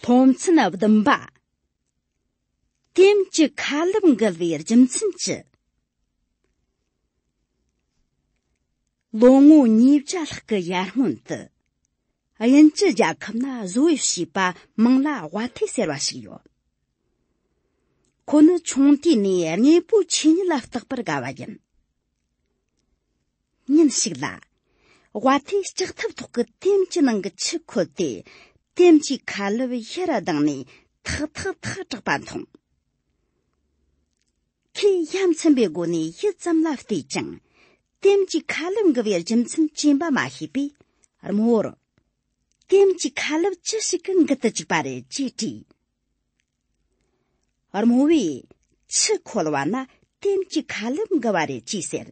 སློབ་ཚན་བདུན་པ་དེམ་གྱི་ཁ་ལུབ་འགུལ་བའི་རྒྱུ་མཚན་ཅི་ལོ་ངོ་ཉིས་བརྒྱ་ལྷག་གི་ཡར་སྔོན་དུ་དབྱིན་ཇི་རྒྱལ་ཁབ་ན་བཟོ་བའི་བྱིས་པ་མང་ལ་དབའ་ཐེ་ཟེར་བ་ཞིག་ཡོད་ཁོ་ནི་ཆུང་དུས་ནས་དངོས་པོའི་ཆོས་ཉིད་ལ་བརྟག་པར་དགའ་བ་ཡིན་ཉིན་ཞིག་ལ་བ་དེ་ལྕགས་ཐབ་ཐོག་གི་ལྟེམ་གྱི་ནང་གི་ཆུ་ཁོལ་ཏེ་ལྟེམ་གྱི་ཁ་ལུབ་ཤི་ར་ལྡང་ནས་ཐག་ཐག་ཐག་གྲགས་པ་མཐོང། ཁོས་ཡ་མཚན་པའི་སྒོ་ནས་ཡིད་ཙམ་ལ་བལྟས་ཀྱང་ལྟེམ་གྱི་ཁ་ལུབ་འགུལ་བའི་རྒྱུ་མཚན་རྐྱེན་པ་མ་ཤེས་པས་རྨོ་བོར། ལྟེམ་གྱི་ཁ་ལུབ་ཅི་ཞིག་གིས་འགུལ་དུ་བཅུག་པ་རེད་ཅེས་དྲིས། རྨོ་བས་ཕྱི་འཁོར་བ་ན་ལྟེམ་གྱི་ཁ་ལེབ་འགུལ་བ་རེད་ཅེས་ཟེར།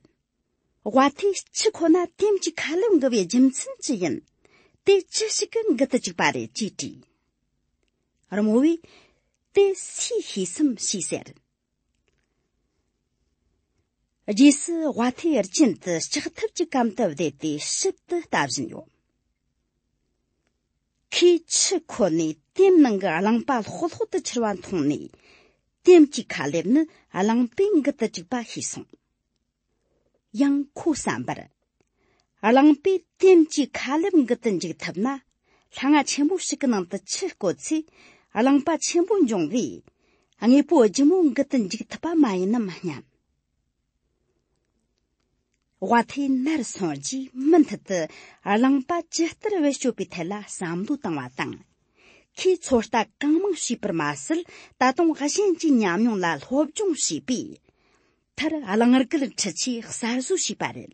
དབའ་ཐེ་ཕྱི་འཁོར་ན་ལྟེམ་གྱི་ཁ་ལེབ་འགུལ་བའི་རྒྱུ་མཚན་ཅི་ཡིན། དེ་ཅི་ཞིག་གི་འགུལ་དུ་བཅུག་པ་རེད་ཅེས་དྲིས། རྨོ་བས་དེ་སུའི་ཤེས་སམ་ཞེས་ཟེར། རྗེས་སུ་དབའ་ཐེ་རྐྱེན་དུ་ལྕགས་ཐབ་ཀྱི་གམ་དུ་བསྡད་དེ་ཞིབ་ཏུ་ལྟ་བཞིན་ཡོད། ཁོས་ཆུ་ཁོ་ནས་ལྟེམ་ནང་གི་རླངས་པ་ལྷོག་ལྷོག་ཏུ་འཁྱིལ་བ་མཐོང་ནས། ལྟེམ་གྱི་ཁ་ལེབ་ནི་རླངས་པའི་མགུལ་དུ་བཅུག་པ་ཤེས་སོང། ཡང་ཁོའི་བསམ་པར། རླངས་པས་ལྟེམ་གྱི་ཁ་ལེབ་མགུལ་དུ་འཇུག་ཐུབ་ན། ལྷ་ང་ཆེན་པོ་ཞིག་གི་ནང་དུ་ཆུ་བསྐོལ་ཚེ་རླངས་པ་ཆེན་པོ་འབྱུང་བས། དངོས་པོ་ལྗིད་མོ་མགུལ་དུ་འཇུག་ཐུབ་པ་མ་ཡིན་ནམ་སྙམ། དབའ་ཐའི་ནར་སོན་རྗེས་མུ་མཐུད་དུ་རླངས་པ་ཇི་ལྟར་བེད་སྤྱོད་པའི་ཐད་ལ་བསམ་བློ་བཏང་བ་དང། ཁོས་ཚོད་ལྟ་གང་མང་བྱས་པར་མ་ཟད་ད་དུང་གཞན་གྱི་ཉམས་མྱོང་ལ་སློབ་སྦྱོང་བྱས་པས། མཐར་རླངས་སྒུལ་འཕྲུལ་ཆས་གསར་བཟོ་བྱས་པ་རེད།